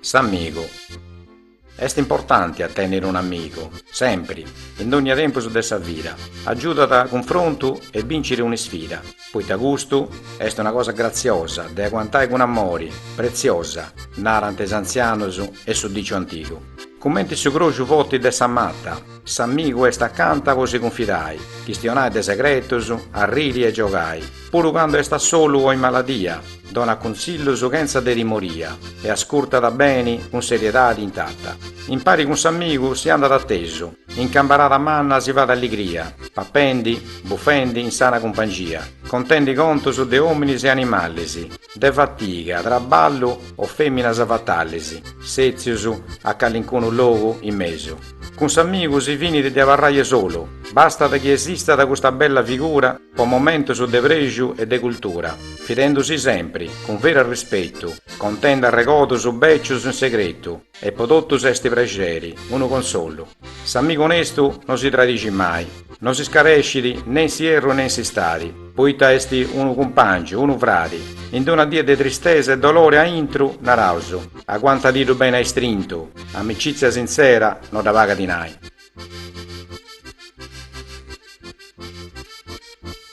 S'amigu. Est importanti a tènniri unu amigu, sempri, in dónnia tempus de sa vida, agiudat a cunfrontu e bìnciri un'isfida, poita custu est una cosa gratziosa de aguantai cun amori, pretziosa, narant is antzianus e su diciu antigu, cumenti su croxu forti de sa mata. S'amigu est acanta po si cunfidai, chistionai de segretus, arriri e giogai. Puru cando est a solu o in maladia, donat cuntzillus chentza de timoria e ascurtat beni cun seriedadi intata. Impari cun s'amigu si andat atesu, in cambarada manna si fait alligria, papendi, bufendi in sana cumpangia, contendi contus de ominis e animalis, de fatiga, traballu o feminas fatalis, setzius a calincunu logu in mesu. Cun s'amigu si finit de abarraie solu, bastat chi esistat custa bella figura po momentus de prexu e de cultura, fidendusi sempri, cun veru arrispetu, contendi arregodus becius in segretu e po totus est prexeri, unu consolu. S'amigu onestu no si tradixit mai. No si scarescit, ne in s'ierru ne in s'istadi, poita est unu cumpàngiu, unu fradi, in d-una die de tristesa e dolore a intru, naraus, aguantadiddu bene a istrintu, amicìtzia sintzera no dda pagat dinai.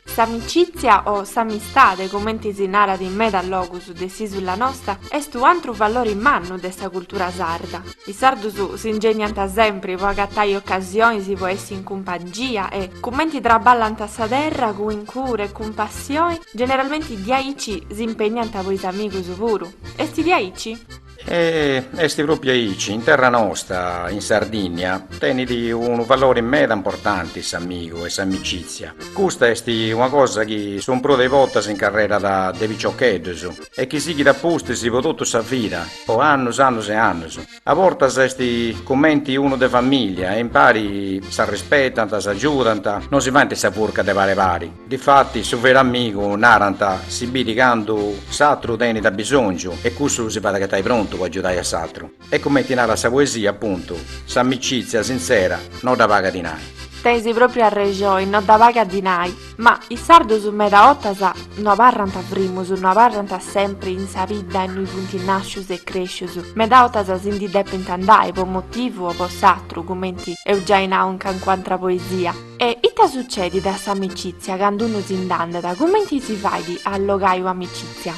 S'amicìtzia o s'amistade, cumenti si narat in medas logus de s'ìsula nosta, est u' antru valori mannu de sa cultura sarda. Is sardus si ingeniant sempri po agatai ocasionis po essi in cumpangia e, cumenti traballant sa terra cun cura e cun passioni, generalmenti diaici si impeniant po is amigus puru. Est diaici? E est pròpiu aici, in terra nosta, in Sardìnnia, tenit unu valori meda importanti s'amigu e s'amicìtzia. Custa est una cosa chi su prus de is bortas incarrerat de piciocheddus e chi sighit a pustis po totu sa vida, po annus, annus e annus. A bortas est cumenti unu de famìllia e impari s'arrispetant, s'agiudant, no si faint sa furca de pare pari. Difatis su veru amigu, narant, si bidit candu s'atru tenit abisòngiu e cussu si fait agatai prontu po agiudai a s'atru. E cumenti narat sa poesia, apuntu, s'amicìtzia sintzera no dda pagat dinai. Tenis pròpriu arrexoi, no dda pagat dinai. Ma is sardus meda 'otas no abarrant frimus, no abarrant sempri in sa bidda innui funt nàscius e crèscius, meda 'otas si ndi depint andai po motivu o po s'atru, cumenti eus giai nau in cancu'antra poesia. E ita sucedit a s'amicìtzia candu unu si nd'andat, cumenti si fait a allogai u' amicìtzia?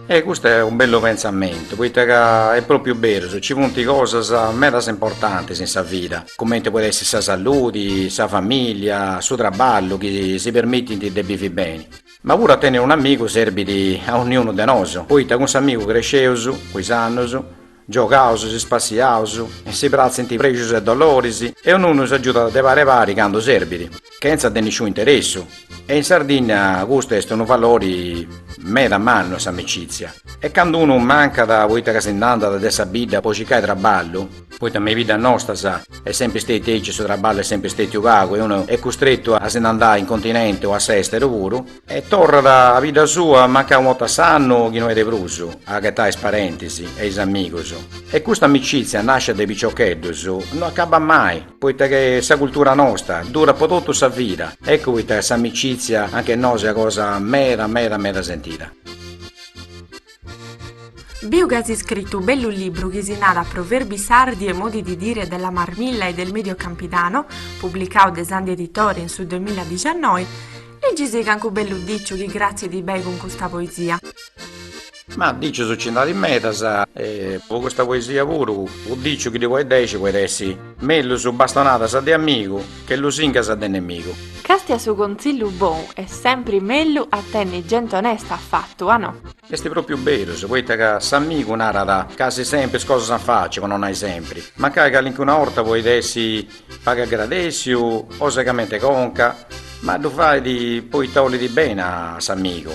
E custu est unu bellu pentzamentu, poita ca est propriu berus, nci funt cosas medas importantis in sa vida, cumenti podit essi sa salludi, sa familia, su trabballu chi si permitint de bivi beni. Ma puru a tenni un'amigu serbit a onniunu de nosu, poita cun s'amigu cresceus, cun is annus, Giogaus, si spassiaus, si pratzint prexus e doloris e onniunu s'agiudat de pari pari candu serbit, chentza de nisciun'interessu, e in Sardinnia custu est unu valori meda mannu a s'amicitzia, e candu unu mancat poita ca si nd'andat de sa bidda po circai traballu, poita me i biddas nostas est sempri stetiu aici e su traballu est sempri stetiu pagu e unu est custrettu a si nd'andai in continente o a s'esteru puru, E torrat a bidda sua mancai unu 'otta s'annu chi no 'e de prus, a aghetai is parentis e is amigus. E custa amicizia nascia de piciocheddus non acabbat mai, poita in sa cultura nosta durat po totu sa vida, eccu poita ca s'amicizia anch'e nosu est cosa meda meda meda sentida. Biu ca as iscritu u bellu libru chi si narat Proverbi sardi e modi di dire della Marmilla e del Medio Campidano, publicau de Sandi Editore in su duemiladixannoi, Liggi·sì cancu bellu diciu chi cratzit beni cun custa poesia. Ah dicius ci nd'at medas e po custa poesia puru u diciu chi ddi poit dexi poit essi, Mellus bastonadas de amigu, Che lusingas de nemigu. Castia, su conzillu bou est sempri mellu a tenni genti onesta a fattu, a no? Est propriu berus, poita ca s'amigu narat casi sempri is cosas a faci, po no nai sempri, mancai calincuna orta poit essi pagu agradessiu o segament'e conca, ma ddu fait poita olit beni a s'amigu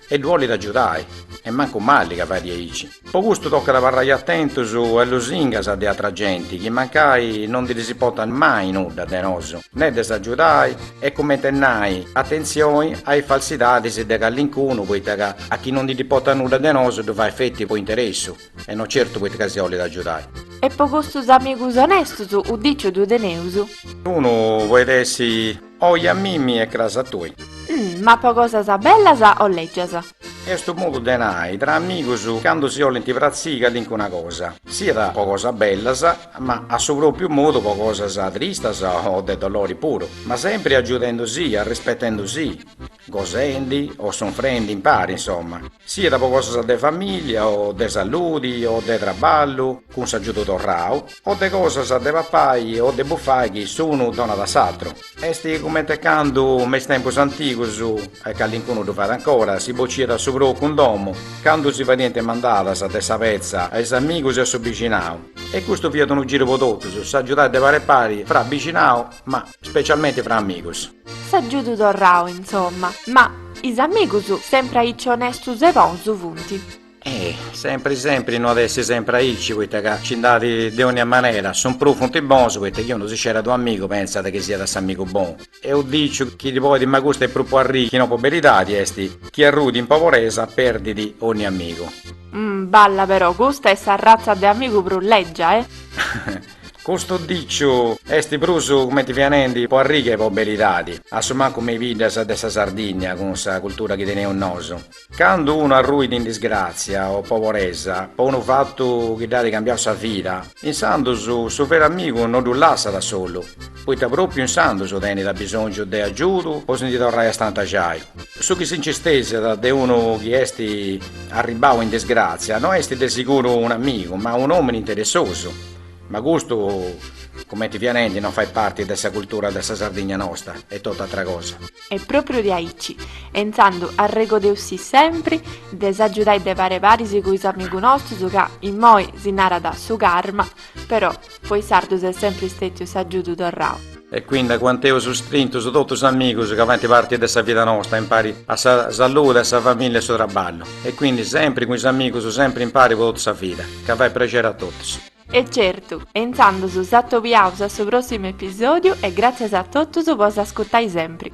e ddu olit agiudai e mancu mali ca fait diaici. Po custu tocat abarrai atentus a is lusingas de atra genti chi mancai no ndi ddis importat mai nudda de nosu, ne de s'agiudai e cumenti nai atentzioni a is falsidadis de callincunu poita ca a chi no ndi dd'importat nudda de nosu ddu fait feti po interessu e no certu poita ca si olit agiudai. E po custus amigus onestus u diciu ddu teneus. Unu poit essi Oi a mimi e cras a tui. Ma po cosas bellas o lègias. Est unu modu de nai tra amigus candu si 'olint pratziri calincuna cosa, siat po cosas bellas, ma a su pròpiu modu po cosas tristas o de dolori puru, ma sempri agiudendusì, arrispettendusì. gosendi o sunfrendi impari insomma, siat po cosas de familia o de saludi o de traballu cun s'agiudu torrau o de cosas de papai o de bufai chi s'unu donat a s'atru, est comente candu me is tempus antigus, e callincunu ddu fait ancora, si bociat su procu in domu, candu si fadiant mandadas de sa petza a is amigus e a su bixinau, e custu fiat unu giru po totus, s'agiudai de pari pari fra bixinau, ma. Specialmente fra amigos. S'agiudu torrau insomma. Ma is amigus sempri aici onestus e bonus funt. Eh! Sempri sempri no at essi sempri aici poita ca nci nd'at de onnia manera. Su prus funt bonus poita chi unu si scerat unu amigu pentzat chi siat s'amigu bonu. E unu diciu chi ddi podit ma custu est prus po arriri chi no po beridadi est chi arruit in poboresa perdit onnia amigu. Balla però custa est s'arratza de amigu prus leggia eh! Custu diciu est prus cumenti fia nendi po arriri che po beridadi, a su mancu me is biddas de sa Sardinnia cun sa cultura chi teneus nosu. Candu unu arruit in disgràtzia o poboresa po unu fatu chi dd'at cambiau sa vida, insandu su veru amigu no ddu lassat solu, poita propiu insandos tenit abisongiu de agiudu po si ndi torrai a stantaxai. Su chi si nci stesiat de unu chi est arribbau in disgrazia no est de siguru un'amigu ma un'omini interessosu, ma custu cumenti fia nendi no fait parti de sa cultura de sa Sardigna nosta est totu atra cosa. Est propriu de aici e intzandu arregodeusì sempri de s'agiudai de pari a pari cun is amigus nostus ca immoi si narat su karma, Però, po is sardus est sempri stètiu s'agiudu torrau. E quindi, aguanteus strintus totus is amigus ca faint parti de sa vida nosta, impari a sa saludi, a sa famìllia e su traballu. E quindi, sempri cun is amigus, sempri impari po totu sa vida, ca fait prexeri a totus. E certu, e intzandus s'atobiaus a su prossimu episodiu e gratzias a totus po s'ascutai sempri.